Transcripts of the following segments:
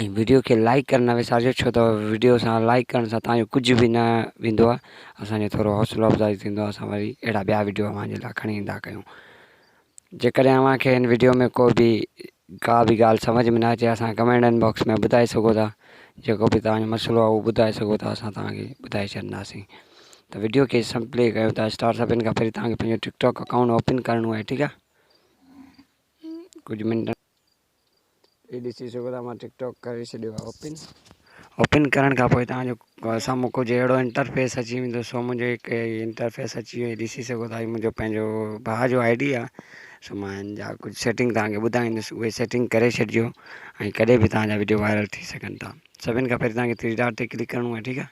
۽ video کي like ڪرڻ نه وسارجو ڇو ته ويڊيو سان لائڪ ڪرڻ سان تانجو ڪجهه به نه ويندو آ اسانجو ٿورو حوصلو افزائي ٿيندو آ اسان وري اهڙا ٻيا ويڊيو اوهان جي لاء کڻي ايندا ڪيون جيڪڏهن اوهان کي هن ويڊيو ۾ ڪو به ڪا به ڳالهه سمجهه ۾ نه اچي اسان ڪمينٽ ان باڪس ۾ ٻڌائي سگهو ٿا جيڪو به تانجو مسئلو آ اهو ٻڌائي سگهو ٿا اسان تانکي ٻڌائي ڇڏنداسين ته ويڊيو کي سم پلي ڪيو ٿا اسٽار سڀن کان پهرين تانکي پنهنجو ٽڪ ٽاڪ اڪائونٽ اوپن ڪرڻو آهي ٺيڪ آ ڪجهه منٽ هي ڏسي شڪر آ مان ٽڪ ٽاڪ ڪري ڇڏيو آ اوپن اوپن ڪرڻ کان پوء توهان جو سامهون ڪجهه اهڙو انٽرفيس اچي ويندو سو منهنجو هڪ انٽرفيس اچي ويو ڏسي سگهو ٿا هي منهنجو پنهنجو ڀاء جو آئي ڊي آ سو مان هن جا ڪجهه سيٽنگ توهان کي ٻڌائيندس اهي سيٽنگ ڪري ڇڏجو ۽ ڪڏهن به توهان جا وڊيو وائرل ٿي سگهن ٿا سڀن کان پهرين توهان کي ٿري ڊاٽ تي ڪلڪ ڪرڻو آ ٺيڪ آ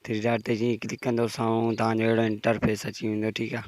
ٿري ڊاٽ تي جيئن ڪلڪ ڪندو سامهون توهان جو اهڙو انٽرفيس اچي ويندو ٺيڪ آ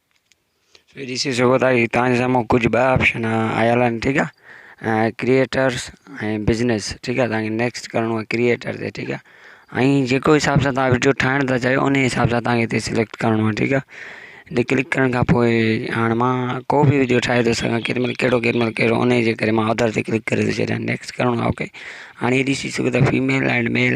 ھي ڏسي سگھو ٿا ھي تنهنجي سامھون ڪجھ ٻه آپشن آيل آھن ٺيڪ آ ڪريئيٽرس ۽ بزنس ٺيڪ آ تنهنکي نيڪسٽ ڪرڻو آ ڪريئيٽر تي ٺيڪ آ ۽ جيڪو حساب سان تنهن وڊيو ٺاھڻ ٿا چاھيو ان حساب سان تنهنکي ھتي سليڪٽ ڪرڻو آ ٺيڪ آ ھتي ڪلڪ ڪرڻ کان پوء ھاڻ مان ڪو به وڊيو ٺاھي ٿو سگھان ڪيڏي مھل ڪهڙو ڪيڏي مھل ڪهڙو ان جي ڪري مان اڌر تي ڪلڪ ڪري ٿو ڇڏيان نيڪسٽ ڪرڻو آ اوڪي ھاڻي ھي ڏسي سگھو ٿا فيميل ۽ ميل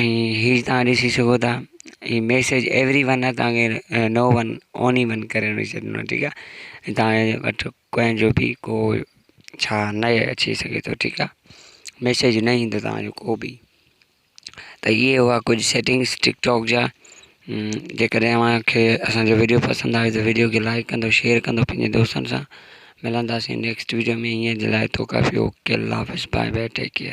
۽ هي تان ڏسي سگهو ٿا هي ميسيج ايوري ون آهي تان کي نو ون اونلي ون ڪري رکي ڇڏينو آهي ٺيڪ آهي تان کي وٽ ڪنهن جو به ڪو ڇا نه اچي سگهي ٿو ٺيڪ آهي ميسيج نه ايندو تان جو ڪو به ته اهي هئا ڪجهه سيٽنگس ٽڪ ٽاڪ جا جي ڪڏهن اوهان کي اسان جو ويڊيو پسند آيو ته ويڊيو کي لائڪ ڪندو شيئر ڪندو پنهنجي دوستن سان ملنداسين نيڪسٽ ويڊيو ۾ هينئر جي لاء توکا ڦيو اوڪي الله حافظ بائي بائي ٽيڪ ڪيئر